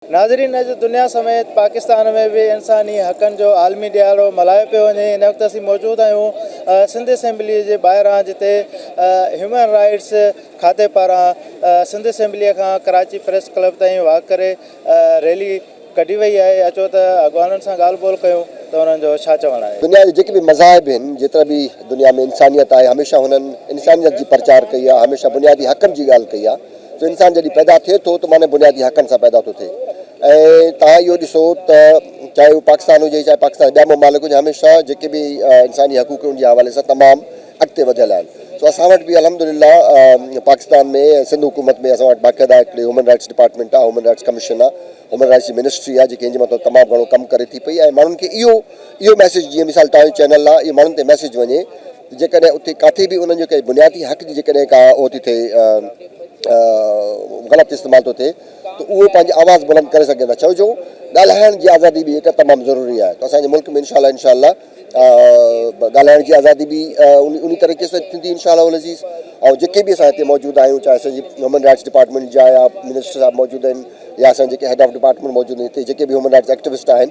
ناظرين اڄ دنيا سميت پاڪستان ۾ به انساني حقن جو عالمي ڏهاڙو ملهايو پيو وڃي ان وقت اسين موجود آهيون سنڌ اسيمبلي جي ٻاهران جتي هيومن رائيٽس کاتي پاران سنڌ اسيمبلي کان ڪراچي پريس ڪلب تائين واڪ ڪري ريلي ڪڍي وئي آهي اچو ته اڳواڻن سان ڳالهه ٻولهه ڪيون ته انهن جو ڇا چوڻ آهي. دنيا جا جيڪي به مذاهب آهن جيترا به دنيا ۾ انسانيت آهي هميشه هنن انسانيت جي پرچار ڪئي آهي هميشه بنيادي حقن جي ڳالهه ڪئي آهي. جو انسان جڏهن پيدا ٿئي ٿو ته معني بنيادي حقن سان پيدا ٿو ٿئي ۽ توهان اهو ڏسو ته چاهي اهو پاڪستان هجي چاهي پاڪستان جا ٻيا ممالڪ هجن هميشه جيڪي به انساني حقوق ان جي حوالي سان تمام اڳتي وڌيل آهن سو اسان وٽ به الحمدلله پاڪستان ۾ سنڌ حڪومت ۾ اسان وٽ باقاعده هڪڙي هيومن رائٽس ڊپارٽمينٽ آهي هيومن رائٽس ڪميشن آهي هيومن رائٽس جي منسٽري آهي جيڪي ان جي مٿان تمام گهڻو ڪم ڪري ٿي پئي ۽ ماڻهن کي اهو اهو ميسيج جيئن مثال توهان جو چينل آهي اهو ماڻهن تي ميسيج وڃي جيڪڏهن اتي ڪاٿي به انهن جو ڪنهن بنيادي حق جي جيڪڏهن ڪا اهو ٿي ٿئي غلط استعمال ٿو ٿئي ته اهو پنهنجي آواز بلند ڪري سگهن ٿا ڇو جو ڳالهائڻ جي آزادي به هڪ تمام ضروري آهي ته اسان جي ملڪ ۾ انشاء الله انشاء الله ڳالهائڻ جي آزادي به انهي طريقي سان ٿيندي انشاء الله العزيز ۽ جيڪي به اسان هتي موجود آهيون چاهي اسان جي هيومن رائٽس ڊپارٽمينٽ جا يا منسٽر صاحب موجود آهن يا اسان جيڪي هيڊ آف ڊپارٽمينٽ موجود آهن هتي جيڪي به هيومن رائٽس ايڪٽوسٽ آهن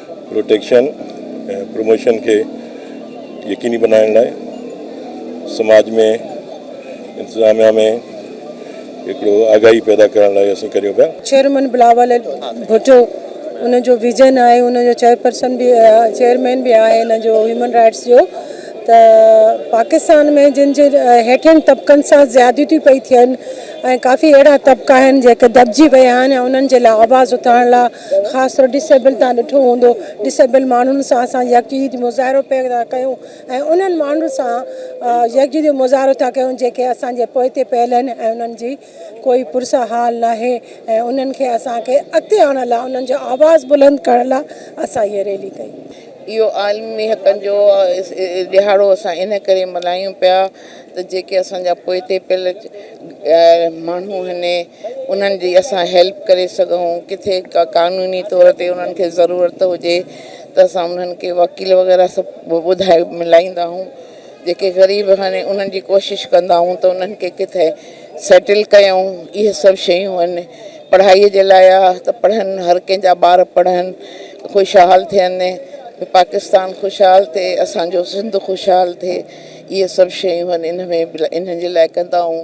پروٽيڪشن ۽ پروموشن کي يقيني بنائڻ لاء سماج ۾ انتظاميا ۾ هڪڙو آگاهي پيدا ڪرڻ لاء اسين ڪريون پيا. چيئرمين بلاول ڀٽو ان جو ويزن آهي ان جو چيئرپرسن به چيئرمين به آهي ان جو هيومن رائيٽس جو ته پاڪستان ۾ جن جي هيٺين طبقن سان زيادتيون پئي ٿين ۽ ڪافي اهڙا طبقا آهن جيڪي دٻجي ويا آهن انهن جي لاء آواز اٿارڻ لاء خاص طور ڊس ايبل تان ڏٺو هوندو ڊس ايبل ماڻهن سان اسان يڪجهتي جو مظاهرو پئي ٿا ڪيون ۽ انهن ماڻهن سان يڪجهتي جو مظاهرو ٿا ڪيون جيڪي اسان جي پوئتي پيل آهن ۽ انهن جي ڪوئي پرسا حال ناهي ۽ انهن کي اسان کي اڳتي آڻڻ لاء انهن جو آواز بلند ڪرڻ لاء اسان هيء ريلي ڪئي. اهو عالمي حقن جو ڏهاڙو اسان ان ڪري ملهايون پيا ته جيڪي اسان جا پوئتي پيل ماڻهو آهن انهن جي اسان هيلپ ڪري سگهون ڪٿي ڪا قانوني طور تي انهن کي ضرورت هجي ته اسان انهن کي وڪيل وغيره سڀ ٻڌائي ملائيندا آهيون جيڪي غريب هني انهن جي ڪوشش ڪندا آهيون ته انهن کي ڪٿي سيٽل ڪيائون اهي سڀ شيون آهن پڙهائي جي لاء آ ته پڙهن هر ڪنهن جا ٻار پڙهن خوشحال ٿين پاڪستان خوشحال ٿئي اسان جو سنڌ خوشحال ٿئي اهي سڀ شيون آهن انهن ۾ انهن جي لاء ڪندا آهيون